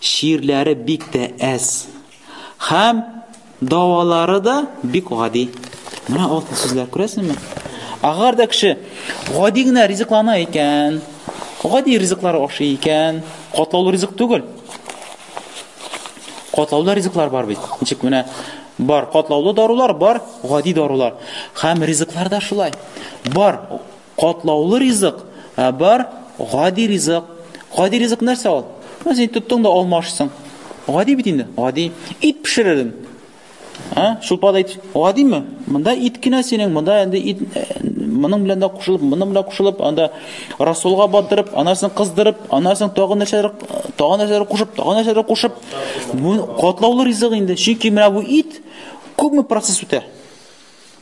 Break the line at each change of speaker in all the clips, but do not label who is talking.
Ширләре бик тә әз. Хәм давалары да бик гади. Менә алтын сүзләр күрәсеңме? Агар да кеше гади генә ризыклана икән, гади ризыклар ашый икән, катлаулы ризык түгел. Катлаулы ризыклар бар бит. Ничек менә бар катлаулы дарулар, бар гади дарулар. Хәм ризыклар да шулай. Бар Катлаулы ризык, ә бар гади ризык. Гади ризык нәрсә ул? Менә син тоттың да алма ашыйсың. Гади бит инде, гади. Ит пешеререн. А? Шулпада ит. Гадиме? Монда ит кенә синең, монда инде ит э, моның белән дә кушылып, моның белән кушылып, анда расулга батырып, анасын кыздырып, анасын тагын нәрсәләр, тагын нәрсәләр кушып, тагын нәрсәләр кушып. Бу катлаулы ризык инде. Чөнки менә бу ит күпме процесс үтә?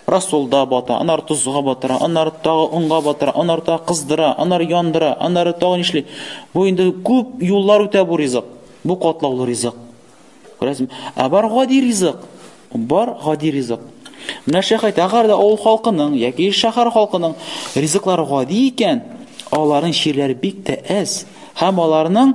Рассолда бата, аннары тозга батыра, аннары тагы онга батыра, аннары тагы кыздыра, аннары яндыра, аннары тагы нишли. Бу инде күп юллар үтә бу ризык. Бу катлаулы ризык. Күрәсең? Ә бар гади ризык. Бар гади ризык. Менә шәхәй тәгәр дә авыл халкының яки шәһәр халкының ризыклары гади икән, аларның чирләре бик тә әз һәм аларның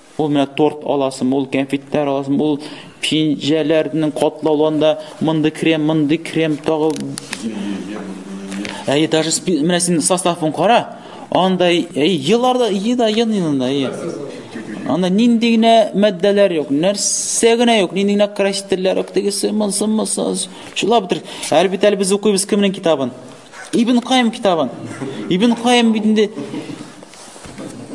Ул менә торт аласым, ул кәнфитләр аласым, ул пинҗәләрнең катлауланда монды крем, монды крем тагы. Әй, даже менә син составын кара. Анда әй елларда еда янында. Анда нинди генә матдәләр юк, нәрсә генә юк, нинди генә красительләр юк, тегесе монсы монсы. Шулап бетер. Әлбәттә әле без укыйбыз кемнең китабын? Ибн Кайм китабын. Ибн Кайм бит инде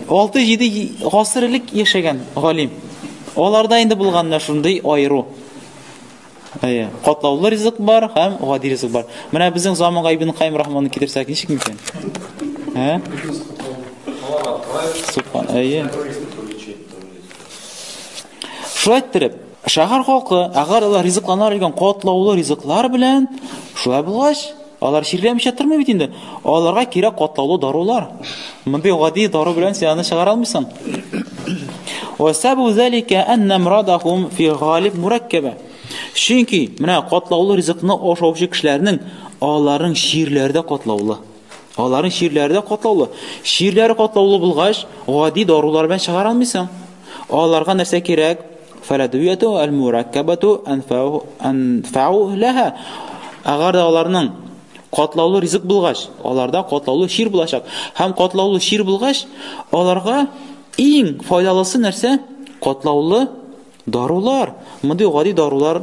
6-7 гасыр элек яшәгән галим. Аларда инде булган менә шундый аеру. Әйе, катлаулы ризык бар һәм гади ризык бар. Менә безнең заманга Ибн Кайм рахманны китерсәк, ничек мөмкин? Ә? Субхан, әйе. Шулай иттереп, шәһәр халкы, әгәр алар ризыкланар икән катлаулы ризыклар белән, шулай булгач, алар чирләмичә тормый бит инде. Аларга кирәк катлаулы дарулар. Мондый гади дару белән син аны чыгара алмыйсың. Ва сабу залика анна мурадахум фи галиб мураккаба. Чөнки менә катлаулы ризыкны ашаучы кешеләрнең аларның чирләре дә катлаулы. Аларның чирләре дә катлаулы. Чирләре катлаулы булгач, гади дарулар белән чыгара алмыйсың. Аларга нәрсә кирәк? Фаладуяту аль-мураккабату анфау лаһа. Әгәр дә аларның катлаулы ризык булгач, аларда катлаулы чир булачак. Һәм катлаулы чир булгач, аларга иң файдалысы нәрсә? Катлаулы дарулар. Мондый гади дарулар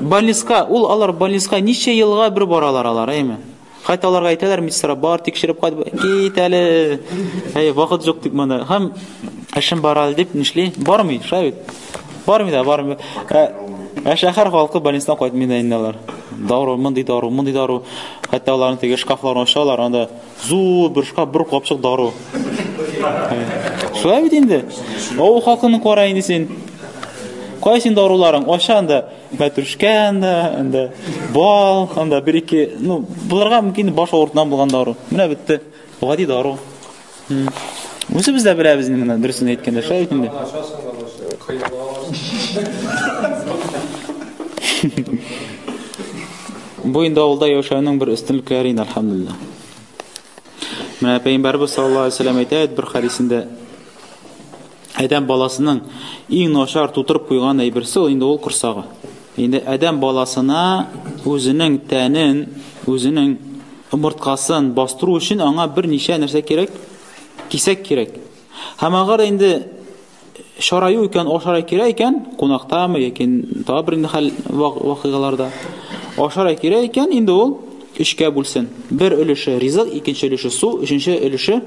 Больниска, ул алар больниска ничә елга бер баралар алар, әйме? Хәтта аларга әйтәләр, медсестра бар, тикшереп кайт, кит әле. Әй, вакыт юк дип монда. Һәм эшем бар әле дип нишли? Бармый, шәй. Бармый да, бармый. Ә, ә шәһәр халкы больнистан кайтмый да инде алар. Дару, мондый дару, мондый дару. Хәтта аларны теге шкафларны ачалар, анда Зур бер шкаф, бер капчык дару. Шулай бит инде. Авыл халкының кара инде син. Кайсы инде даруларың? Аша анда мәтрүшкә анда, анда бал, анда бер ике, ну, буларга мөмкин баш авыртудан булган дару. Менә бетте. Гади дару. Үзе без дә беләбез инде менә дөресен әйткәндә, шулай бит инде. Бу инде авылда яшәүнең бер өстенлекләре инде, алхамдулилла. Менә пәйгамбәрбез саллаллаһу алейһи вәсәлләм әйтә бер хадисендә Адәм баласының иң начар тутырып куйган әйберсе инде ул корсагы. Инде адәм баласына үзенең тәнен, үзенең омырткасын бастыру өчен аңа берничә нәрсә кирәк? Кисәк кирәк. Һәм агар инде Шараю икән, ашара кирәк икән, кунактамы яки тагы бер инде хәл вакыйгаларда. Ашара кирәк икән, инде ул өчкә бүлсен. Бер өлеше ризык, икенче өлеше су, өченче өлеше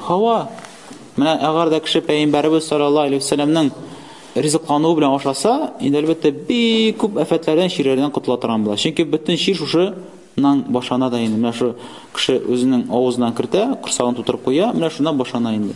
һава. Менә әгәр дә кеше пәйгамбәребез саллаллаһу алейһи вәсәлләмнең ризыклануы белән ашаса, инде әлбәттә бик күп афәтләрдән, чирләрдән котыла торган була. Чөнки бөтен чир шушы нан башана да инде. Менә шу кеше үзенең авызына кертә, корсагын тутырып куя, менә шуннан башана инде.